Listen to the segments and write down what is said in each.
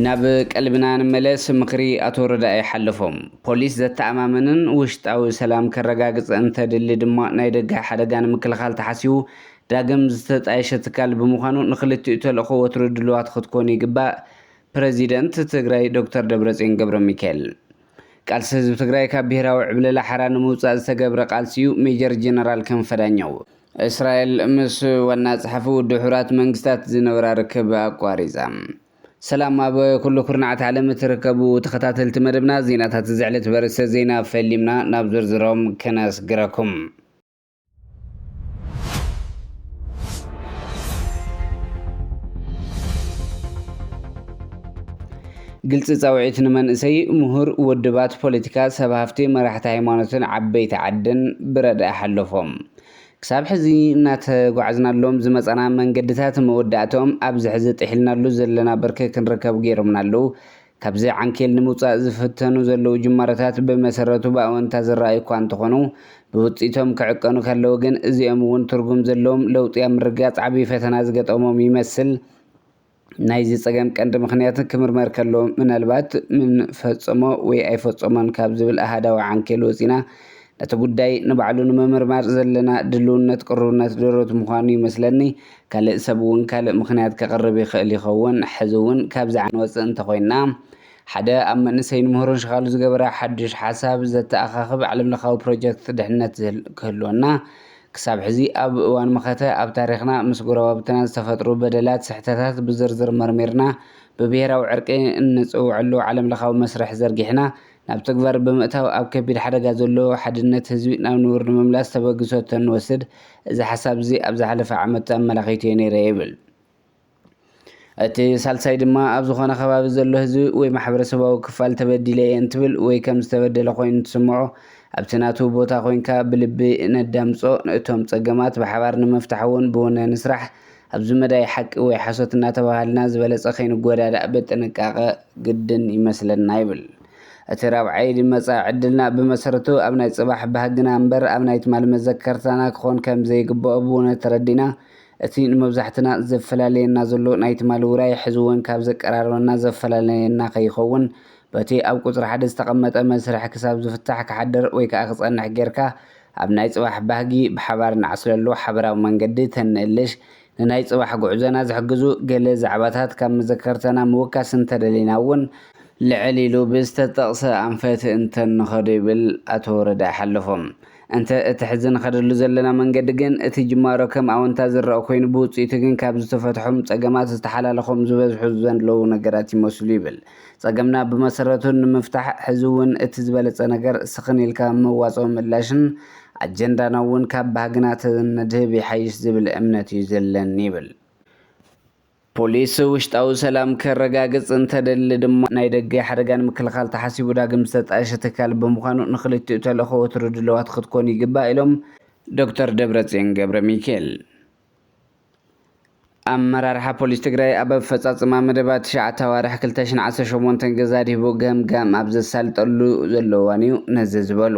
ናብ ቀልብና ንመለስ ምኽሪ ኣቶ ረዳኢ ሓለፎም። ፖሊስ ዘተኣማምንን ውሽጣዊ ሰላም ከረጋግፅ እንተድሊ ድማ ናይ ደገ ሓደጋ ንምክልኻል ተሓሲቡ ዳግም ዝተጣየሸ ትካል ብምዃኑ ንክልቲኡ ተልእኾ ወትሩ ድሉዋት ክትኮኑ ይግባእ ፕረዚደንት ትግራይ ዶክተር ደብረፅዮን ገብረሚካኤል፣ ቃልሲ ህዝቢ ትግራይ ካብ ብሄራዊ ዕብለላ ሓራ ንምውፃእ ዝተገብረ ቃልሲ'ዩ ሜጀር ጀነራል ክንፈ ዳኘው። እስራኤል ምስ ዋና ጸሓፊ ውድብ ሕቡራት መንግስታት ዝነበራ ርክብ ኣቋሪጻ። ሰላም ኣብ ኩሉ ኩርናዓት ዓለም እትርከቡ ተኸታተልቲ መደብና ዜናታት እዚ ዕለት በርእስተ ዜና ፈሊምና ናብ ዝርዝሮም ክነስግረኩም። ግልፂ ፃውዒት ንመንእሰይ፣ ምሁር፣ ውድባት ፖለቲካ፣ ሰብ ሃፍቲ፣ መራሕቲ ሃይማኖትን ዓበይቲ ዓድን ብረድኢ ሓለፎም። ክሳብ ሕዚ እናተጓዕዝናሎም ዝመፃና መንገድታት መወዳእትኦም ኣብዚ ሕዚ ጥሒልናሉ ዘለና ብርኪ ክንርከብ ገይሮምና ኣለው። ካብዚ ዓንኬል ንምውፃእ ዝፍተኑ ዘለዉ ጅማሮታት ብመሰረቱ ብኣወንታ ዝረኣዩ እኳ እንተኾኑ፣ ብውፅኢቶም ክዕቀኑ ከለዉ ግን እዚኦም እውን ትርጉም ዘለዎም ለውጢ ኣብ ምርግጋፅ ዓብዪ ፈተና ዝገጠሞም ይመስል። ናይዚ ፀገም ቀንዲ ምኽንያት ክምርመር ከሎ ምናልባት ምን ፈፀሞ ወይ ኣይፈፀሞን ካብ ዝብል ኣሃዳዊ ዓንኬል ወፂእና ነቲ ጉዳይ ንባዕሉ ንምምርማር ዘለና ድሉውነት ቅሩብነት ድሩት ምዃኑ ይመስለኒ። ካልእ ሰብ እውን ካልእ ምኽንያት ከቕርብ ይኽእል ይኸውን። ሕዚ እውን ካብዚ ዓንወጽእ እንተኾይንና፣ ሓደ ኣብ መንእሰይን ምሁርን ሽኻሉ ዝገበረ ሓዱሽ ሓሳብ ዘተኣኻኽብ ዓለምለኻዊ ፕሮጀክት ድሕነት ክህልወና ክሳብ ሕዚ ኣብ እዋን መኸተ ኣብ ታሪኽና ምስ ጎረባብትና ዝተፈጥሩ በደላት ስሕተታት ብዝርዝር መርሚርና ብብሄራዊ ዕርቂ እንጽውዐሉ ዓለምለኻዊ መስርሕ ዘርጊሕና ናብ ተግባር ብምእታው ኣብ ከቢድ ሓደጋ ዘሎ ሓድነት ህዝቢ ናብ ንቡር ንምምላስ ተበግሶ እተንወስድ እዚ ሓሳብ'ዚ ኣብ ዝሓለፈ ዓመት ኣመላኺቱ'የ ነይረ ይብል። እቲ ሳልሳይ ድማ ኣብ ዝኾነ ከባቢ ዘሎ ህዝቢ ወይ ማሕበረሰባዊ ክፋል ተበዲለ'የ እንትብል ወይ ከም ዝተበደለ ኮይኑ እንትስምዖ ኣብቲ ናቱ ቦታ ኮንካ ብልቢ ነዳምጾ እቶም ጸገማት ብሓባር ንምፍታሕ'ውን ብውነ ንስራሕ ኣብዚ መዳይ ሓቂ ወይ ሓሶት እናተበሃልና ዝበለፀ ከይንጎዳዳእ ብጥንቃቐ ግድን ይመስለና ይብል። እቲ ራብዓይ ድመፃ ዕድልና ብመሰረቱ ኣብ ናይ ፅባሕ ባህግና እምበር ኣብ ናይ ትማሊ መዘከርታና ክኾን ከምዘይግበኦ ብውነ ተረዲእና እቲ ንመብዛሕትና ዘፈላልየና ዘሎ ናይ ትማሊ ውራይ ሕዚ እውን ካብ ዘቀራርበና ዘፈላለየና ከይኸውን በቲ ኣብ ቁፅሪ ሓደ ዝተቐመጠ መስርሕ ክሳብ ዝፍታሕ ክሓድር ወይከዓ ክፀንሕ ገይርካ ኣብ ናይ ጽባሕ ባህጊ ብሓባር እንዓስለሉ ሓበራዊ መንገዲ ተንእልሽ፣ ንናይ ጽባሕ ጉዕዞና ዝሕግዙ ገለ ዛዕባታት ካብ መዘከርታና ምውካስ እንተደሊና እውን፣ ልዕል ኢሉ ብዝተጠቕሰ ኣንፈት እንተንኸዶ ይብል ኣቶ ረዳኢ ሓለፎም። እንተ እቲ ሕዚ ንኸደሉ ዘለና መንገዲ ግን፣ እቲ ጅማሮ ከም ኣወንታ ዝረኣ ኮይኑ፣ ብውጽኢቱ ግን ካብ ዝተፈትሖም ጸገማት ዝተሓላለኾም ዝበዝሑ ዘንለዉ ነገራት ይመስሉ ይብል ጸገምና ብመሰረቱ ንምፍታሕ ሕዚ እውን እቲ ዝበለጸ ነገር ስኽን ኢልካ መዋጽኦ ምላሽን ኣጀንዳና እውን ካብ ባህግና ተነድህብ ይሓይሽ ዝብል እምነት እዩ ዘለኒ ይብል። ፖሊስ ውሽጣዊ ሰላም ከረጋግጽ እንተደሊ ድማ ናይ ደገ ሓደጋ ንምክልኻል ተሓሲቡ ዳግም ዝተጣየሸ ትካል ብምዃኑ ንኽልቲኡ ተልእኾ ወትሩ ድልዋት ክትኮኑ ይግባእ ኢሎም ዶክተር ደብረጽዮን ገብረሚኪኤል። ኣመራርሓ ፖሊስ ትግራይ ኣብ ኣፈፃፅማ መደባት ትሽዓተ ኣዋርሕ ክልተ ሺሕን ዓሰርተ ሸሞንተን ገዛ ኣድሂቡ ገምጋም ኣብ ዘሳልጠሉ ዘሎ እዋን እዩ ነዚ ዝበሉ።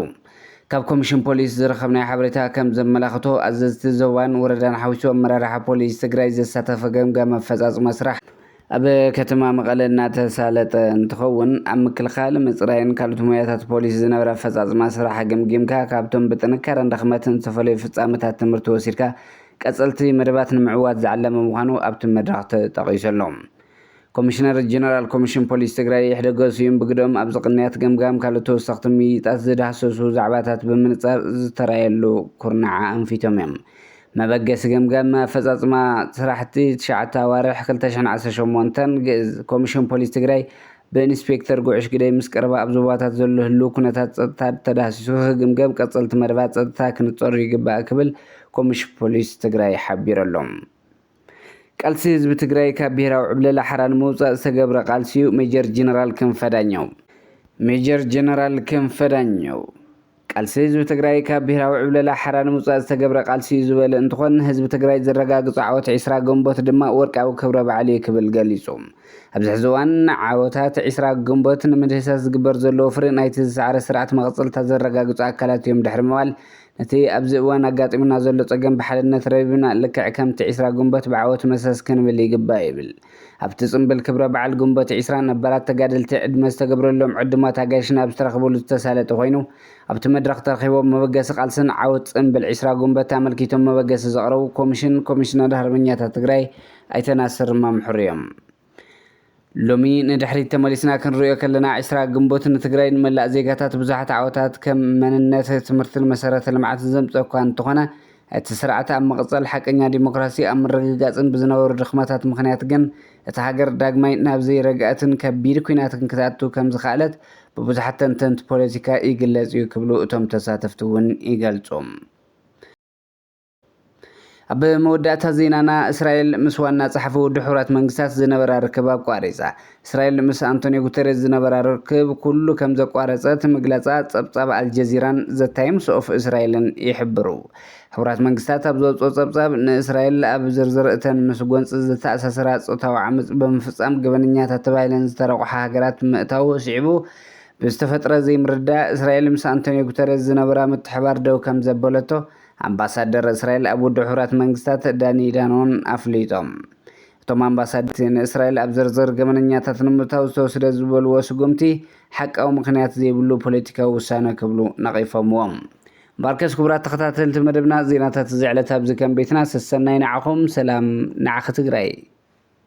ካብ ኮሚሽን ፖሊስ ዝረኸብናዮ ሓበሬታ ከም ዘመላኽቶ ኣዘዝቲ ዞባን ወረዳን ሓዊሱ ኣመራርሓ ፖሊስ ትግራይ ዘሳተፈ ገምጋም ኣፈፃፅማ ስራሕ ኣብ ከተማ መቐለ እናተሳለጠ እንትኸውን፣ ኣብ ምክልኻል፣ ምፅራይን ካልኦት ሞያታት ፖሊስ ዝነበረ ኣፈፃፅማ ስራሕ ገምጊምካ ካብቶም ብጥንካረን ድኽመትን ዝተፈለዩ ፍፃመታት ትምህርቲ ወሲድካ ቀፀልቲ መደባት ንምዕዋት ዝዓለመ ምዃኑ ኣብቲ መድረኽ ተጠቒሱ ኣሎ። ኮሚሽነር ጀነራል ኮሚሽን ፖሊስ ትግራይ ይሕደጎ ስዩም ብግደኦም፣ ኣብዚ ቅንያት ገምጋም ካልኦት ተወሰኽቲ ምይይጣት ዝዳህሰሱ ዛዕባታት ብምንፃር ዝተርኣየሉ ኩርናዕ ኣንፊቶም እዮም። መበገሲ ገምጋም ኣፈፃፅማ ስራሕቲ ትሽዓተ ኣዋርሕ ክልተ ሽሕን ዓሰርተ ሸሞንተን፣ ግእዝ፣ ኮሚሽን ፖሊስ ትግራይ ብኢንስፔክተር ጉዕሽ ግደይ ምስ ቀረባ ኣብ ዞባታት ዘሎ ህልው ኩነታት ፀጥታ ተዳህሲሱ ክግምገም ቀፀልቲ መደባት ፀጥታ ክንፀሩ ይግባእ ክብል ኮሚሽን ፖሊስ ትግራይ ሓቢሩ ኣሎ። ቃልሲ ህዝቢ ትግራይ ካብ ብሄራዊ ዕብለላ ሓራ ንምውፃእ ዝተገብረ ቃልሲ እዩ-ሜጀር ጄኔራል ክንፈ ዳኘው። ሜጀር ጄኔራል ክንፈ ዳኘው። ቃልሲ ህዝቢ ትግራይ ካብ ብሄራዊ ዕብለላ ሓራ ንምውፃእ ዝተገብረ ቃልሲ ዩ ዝበለ እንትኾን ህዝቢ ትግራይ ዘረጋግፆ ዓወት ዕስራ ግንቦት ድማ ወርቃዊ ክብረ በዓል ዩ ክብል ገሊፁ። ኣብዚ ሕዚ እዋን ዓወታት ዕስራ ግንቦት ንምድህሳስ ዝግበር ዘሎ ወፍሪ ናይቲ ዝሰዓረ ስርዓት መቐፀልታ ዘረጋግፁ ኣካላት ዮም ድሕሪ ምባል ነቲ ኣብዚ እዋን ኣጋጢሙና ዘሎ ፀገም ብሓድነት ረቢብና ልክዕ ከምቲ ዕስራ ግንቦት ብዓወት መሰስ ክንብል ይግባእ ይብል። ኣብቲ ጽምብል ክብረ በዓል ግንቦት ዕስራ ነባራት ተጋደልቲ ዕድመ ዝተገብረሎም ዕዱማት ኣጋይሽን ኣብ ዝተረኽብሉ ዝተሳለጠ ኮይኑ ኣብቲ መድረኽ ተረኺቦም መበገሲ ቃልስን ዓወት ጽምብል ዕስራ ግንቦት ኣመልኪቶም መበገሲ ዘቕረቡ ኮሚሽን ኮሚሽነር ሃርበኛታት ትግራይ ኣይተ ናስር ማምሕሩ እዮም። ሎሚ ንድሕሪት ተመሊስና ክንሪኦ ከለና ዕስራ ግንቦት ንትግራይ ንመላእ ዜጋታት ብዙሓት ዓወታት ከም መንነት፣ ትምህርትን መሰረተ ልምዓትን ዘምፀ እኳ እንተኾነ እቲ ስርዓት ኣብ ምቕጻል ሓቀኛ ዲሞክራሲ ኣብ ምርግጋጽን ብዝነበሩ ድኽመታት ምኽንያት ግን እታ ሃገር ዳግማይ ናብ ዘይረግኣትን ከቢድ ኲናትን ክትኣቱ ከምዝኸኣለት ብብዙሓት ተንተንቲ ፖለቲካ ይግለጽ እዩ ክብሉ እቶም ተሳተፍቲ እውን ይገልጹ። ኣብ መወዳእታ ዜናና፣ እስራኤል ምስ ዋና ጸሓፊ ውድብ ሕቡራት መንግስታት ዝነበራ ርክብ ኣቋሪጻ፣ እስራኤል ምስ ኣንቶንዮ ጉተሬዝ ዝነበራ ርክብ ኩሉ ከም ዘቋረጸት ምግላጻ ጸብጻብ ኣልጀዚራን ዘ ታይምስ ኦፍ እስራኤልን ይሕብሩ። ሕቡራት መንግስታት ኣብ ዘውጽኦ ጸብጻብ፣ ንእስራኤል ኣብ ዝርዝር እተን ምስ ጎንጺ ዝተኣሳሰራ ጾታዊ ዓመጽ ብምፍጻም ገበነኛታት ተባሂለን ዝተረቑሓ ሃገራት ምእታዉ ስዒቡ ብዝተፈጥረ ዘይምርድዳእ እስራኤል ምስ ኣንቶንዮ ጉተሬዝ ዝነበራ ምትሕብባር ደው ከም ዘበለቶ ኣምባሳደር እስራኤል ኣብ ውድብ ሕቡራት መንግስታት ዳኒ ዳኖን ኣፍሊጦም። እቶም ኣምባሳደርቲ ንእስራኤል ኣብ ዝርዝር ገበነኛታት ንምእታው ዝተወስደ ዝበልዎ ስጉምቲ ሓቃዊ ምኽንያት ዘይብሉ ፖለቲካዊ ውሳነ ክብሉ ነቒፎምዎ። ባርከስ ኩቡራት ተኸታተልቲ መደብና ዜናታት እዚ ዕለት ኣብዚ ከም ቤትና ሰሰናዩ ንዓኹም ሰላም ንዓኺ ትግራይ።